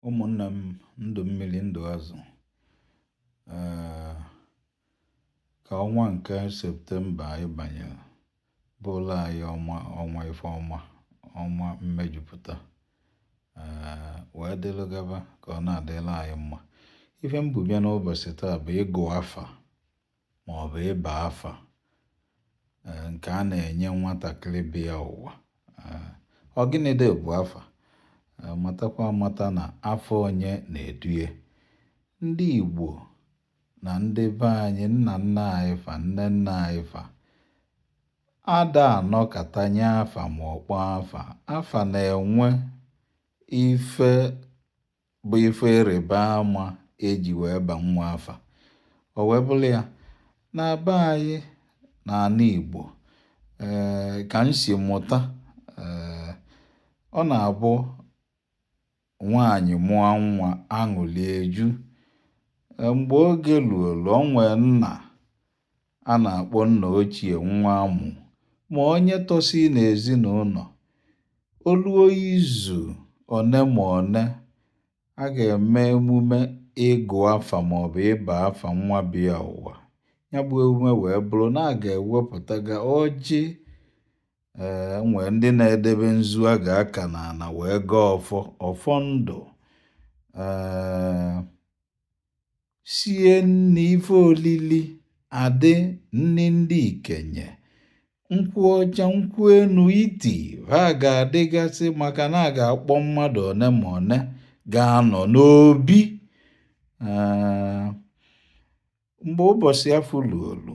ụmụnna m ndụ mmiri ndụ azụ ka ọnwa nke septemba anyị banyere bụla anyị ọnwa ọnwa ife ọma ọnwa mmejupụta wee dịlụ gaba ka ọ na-adịla anyị mma ife m bu bịa n'ụbọsị taa bụ ịgụ afa maọbụ ịba afa eh, nke a na-enye nwatakịrị bịa ụwa. Eh, ọ gịnịdị bụ afa? Eh, matakwa amata na afa onye na-edu ye. Ndị Igbo na ndị be anyị, nna nna anyị fa, nne nna anyị fa, ada anọkata nye afa ma ọ kpọọ afa. Afa na-enwe ife bụ ife ịrịba ama eji wee ba nwa afa o wee bụrụ ya na be anyị n'ana Igbo ee eh, ka m si mụta ee eh, ọ na-abụ nwaanyị mụọ nwa aṅụlị eju eh, mgbe oge luolu o nwee nna a na-akpọ nna ochie nwa amụ ma onye tọsị n'ezinaụnọ, o luo izu one ma one a ga-eme emume ịgụ afa maọbụ ịba afa nwa bịa ụwa. Ya bụ emume wee bụrụ na a ga-ewepụtaga ọjị ee nwee ndị na-edebe nzu a ga-aka n'ana wee gọọ ọfọ ọfọ ndụ ee sie nni ife olili adị nni ndị ikenye nkwụ ọcha nkwụ enu iti va ga-adịgasị maka na a ga-akpọ mmadụ one ma one ga-anọ n'obi mgbe ụbọsị afụ luolu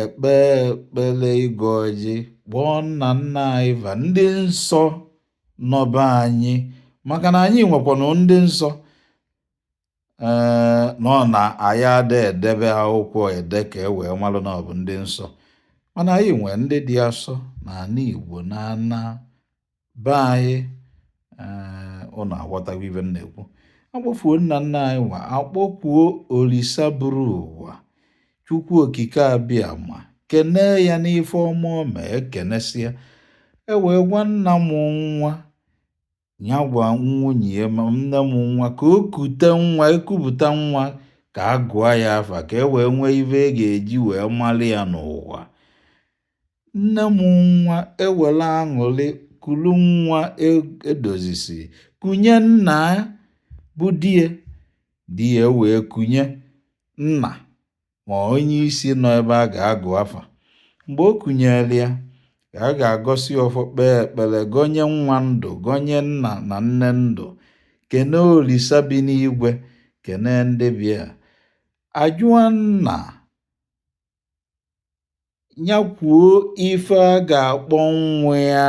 e kpee ekpele ịgọ ọjị kpọọ nna nna anyị va ndị nsọ nọ be anyị maka na anyị nwekwanụ ndị nsọ ee na ọ na anyị ada edebe akwụkwọ ede ka e wee malụ na ọ bụ ndị nsọ mana anyị nwee ndị dị asọ na ana igbo na ana Be anyị ee ụnụ aghọtago ife m na-ekwu akpọfuo nna nna anyị va akpọkuo olisa buru ụwa chukwu okike abịama kenee ya n'ife ọma o mee ekenesịa e wee gwa nna mụ nwa ya gwa nwunye ya ma nne mụ nwa ka o kute nwa ekupụta nwa ka a gụọ ya afa ka e wee nwee ife a ga-eji wee malụ ya n'ụwa Nne mụ nwa ewere aṅụrị kulu nwa edozisi kunye nna bụ di ya. Di ya wee kunye nna ma onye isi nọ ebe a ga-agụ afa. Mgbe o kunyere ya, ka a ga-agọsi ọfọ kpee ekpere gọnye nwa ndụ gọnye nna na nne ndụ kene Olisa bi n'igwe kene ndị bịa ajụọ nna Nya kwuo ife a ga-akpọ nwa ya.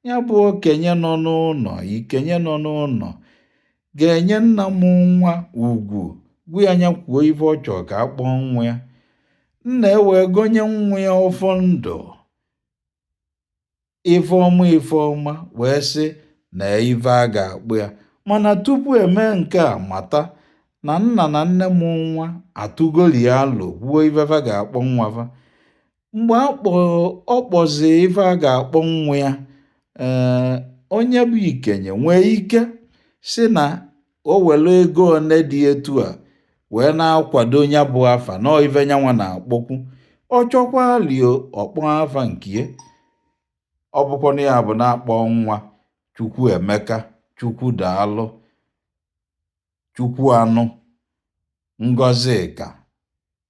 Nya bụ okenye nọ n'ụnọ, ikenye nọ n'ụnọ ga-enye nna mụ nwa ugwu gwa ya nya kwuo ife ọ chọ ka a kpọọ nwa ya. Nna ewee gọnye nwa ya ọfọ ndụ. ife ọma ife ọma wee sị na ife a ga-akpọ ya mana tupu emee nke a mata na nna na nne mụ nwa atụgoli ya alo kwuo ife fa ga-akpọ nwa fa mgbe ọ kpọzi ife a ga-akpọ nwa ya ee eh, onye bụ ikenye nwee ike sị na o were ego one dị etu a wee na-akwado nya bụ afa na ife nyanwa na-akpọkwu ọ chọkwalị ọ kpọ afa nkie ọ bụkwanụ ya bụ na-akpọ nwa Chukwuemeka Chukwudaalụ Chukwuanụ Ngozika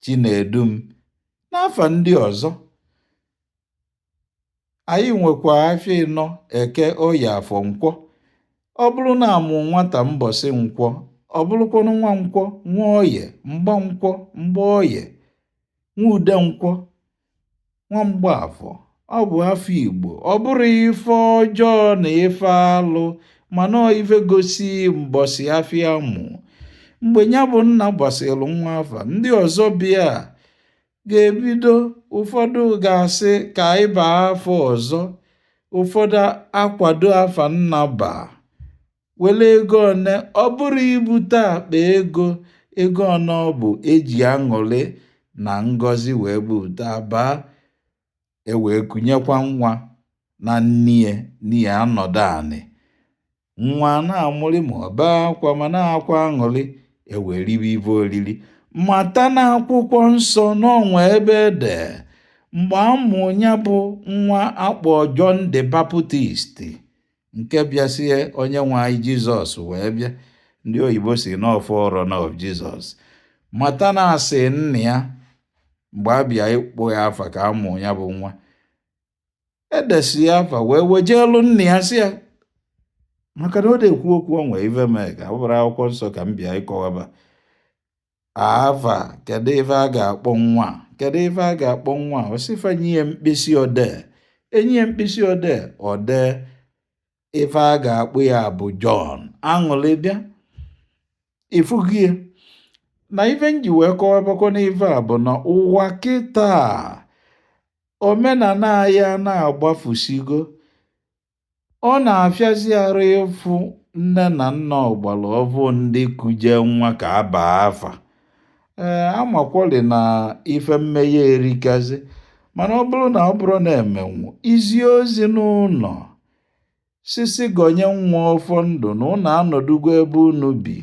Chinedum na afa ndị ọzọ Anyị nwekwa afịa ịnọ eke oye afọ nkwọ ọ bụrụ na a mụ nwata mbọsị nkwọ ọ bụrụkwanụ nwa nkwọ nwa oye mgba nkwọ mgba oye nwa ude nkwọ nwa mgba afọ ọ bụ afa Igbo ọ bụrọ ife ọjọọ na ife alụ mana ọ ife gosi mbọsị afịa a mụ mgbe nya bụ nna basịrị nwa afa ndị ọzọ bịa ga-ebido ụfọdụ ga-asị ka anyị baa afa ọzọ ụfọdụ akwado afa nna baa were ego one ọ bụrọ ibute akpa ego ego one ọ bụ eji aṅụrị na ngọzi wee buta baa e wee kunyekwa nwa na nnie nnie anọdụ anị nwa na-amụrị ma ọ bee akwa mana akwa aṅụrị e wee ribe ife oriri mata na akwụkwọ nsọ na o nwe ebe e de mgbe a mụ nya bụ nwa a kpọ John the Baptist nke bịasie onye nwe anyị jizọs wee bịa ndị oyibo sị na ọ forerunner of jizọs mata na a sị nna ya mgbe a bịa ịkpọ ya afa ka a mụ ya bụ nwa edesi ya afa wee wejeelu nna ya sị ya maka na ọ da-ekwu okwu o nwe ive mee ka ọ bụrọ akwụkwọ nsọ ka m bịa ịkọwaba Afa, kedụ ife a ga-akpọ nwa kedụ ife a ga-akpọ nwa ọ sị fa nye ya mkpịsị odee enye ya mkpịsị odee o dee ife a ga-akpọ ya bụ Jọn aṅụlị bịa ị fụzie na ife m ji wee kọwabakwanụ ife a bụ na ụwa kịta omenana ya na-agbafusigo Ọ na-afịazi arụ ịfụ nne na nna ọgbara ọfụụ ndị kujee nwa ka a baa afa. Ee, a makwalị na ife mmeghe erikazị mana ọ bụrụ na ọ bụrụ na e menwu izi ozi n'ụnọ sị sị gọnye nwa ọfọ ndụ na unu anọdụgo ebe unu bi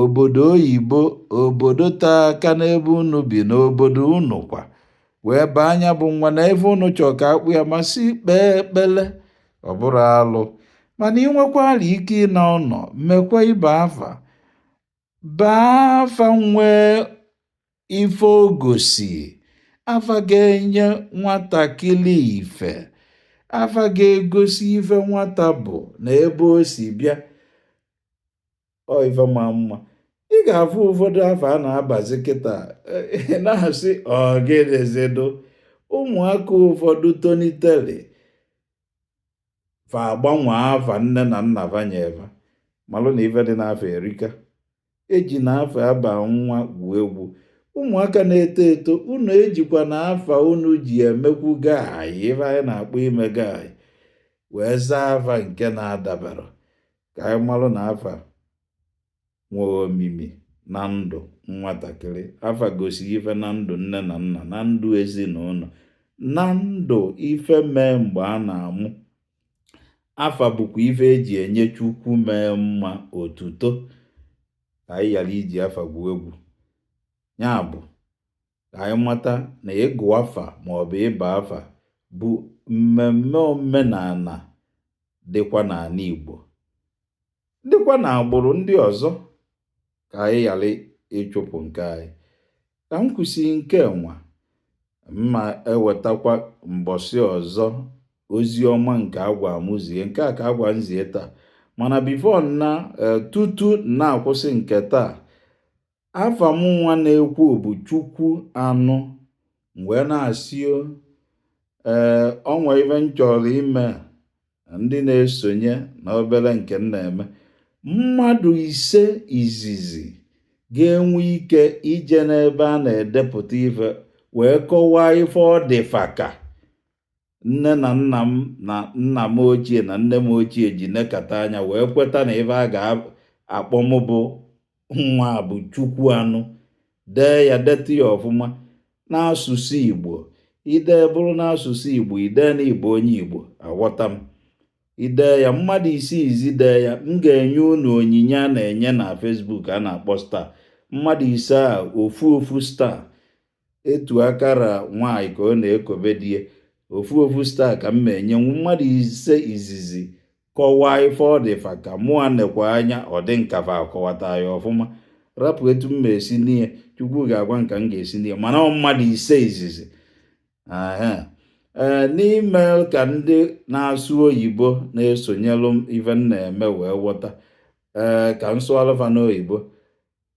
obodo oyibo obodo tee aka n'ebe unu bi n'obodo unu kwa wee baa nya bụ nwa na ife unu chọọ ka a kpọọ ya ma si kpee ekpele ọ bụrọ alụ mana ị nwekwalị ike ịna ụnọ mekwa ịba afa baa afa nwee Ife ọ gosi afa ga-enye nwatakịrị ife afa ga-egosi ife nwata bụ na ebe o si bịa ọ ife ma mma ị ga-afụ ụfọdụ afa a na-abazi kịta na-asị ọ gịnịzi dụ ụmụaka ụfọdụ tonitere fa agbanwe afa nne na nna fa nye fa malụ na ife dị n'afa erika ejina afa a ba nwa gwuo egwu ụmụaka na-eto eto unu ejikwana afa unu ji emekwu guy ife anyị na-akpọ ime guy wee zaa afa nke na-adabara ka anyị malụ na afa nwee omimi na ndụ nwatakịrị afa gosi ife na ndụ nne na nna na ndụ ezinụnọ na ndụ ife mee mgbe a na-amụ afa bụkwa ife e ji enye Chukwu mee mma otuto ka anyị ghara iji afa gwuo egwu nya bụ ka anyị mata na ịgụ afa maọbụ ịba afa bụ mmemme omenana dịkwa n'anị Igbo dịkwa na agbụrụ ndị ọzọ ka anyị ghara ịchụpụ nke anyị ka m kwụsị nke nwa m ma-ewetakwa mbọsị ọzọ ozi ọma nke a gwa m zie nke a ka a gwa m zie taa mana before m na e, tutu m na-akwụsị nke taa afa mụnwa na-ekwu bụ Chukwuanụ wee na-asị ee o nwe ife m chọrọ ime ndị na-esonye na obere nke m na-eme mmadụ ise izizi ga-enwe ike ije n'ebe a na-edepụta ife wee kọwaa ife ọ dị fa ka Nne na nna m na nna m ochie na nne m ochie ji nekata anya wee kweta na ife a ga-akpọ m bụ nwa bụ Chukwuanụ dee ya detụ ya ọfụma n'asụsụ Igbo i dee bụrụ n'asụsụ Igbo i dee na ị bụ onye Igbo aghọta m i dee ya mmadụ ise izizi dee ya m ga-enye unu onyinye a na-enye na Facebook a na-akpọ star mmadụ ise a ofu ofu star etu aka ra nwaanyị ka ọ na-ekobe di ya ofu ofu star ka m na-enye mmadụ ise izizi kọwaa ife ọ dị fa ka mụa nekwa anya ọ dị m ka fa akọwata ya ọfụma rapụ etu m esi nye chukwu ga-agwa m ka m ga-esi nye mana ọ mmadụ ise izizi ee n'ime ka ndị na-asụ oyibo na-esonyelụ m ife m na-eme wee ghọta ee ka m sụalụ fa n'oyibo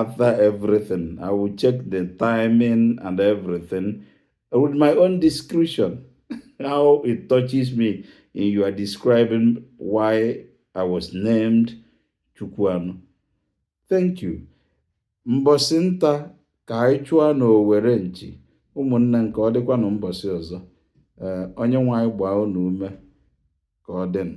after everything i will check the timing and everything with my own discretion how it touches me in your describing why i was named chukwuanụ thank you mbọsị nta ka anyị chụọ na owere nchi ụmụnne ka ọ dịkwanụ mbọsị ọzọ eh, onye nwe anyị gbaa unu ume ka ọ dịnụ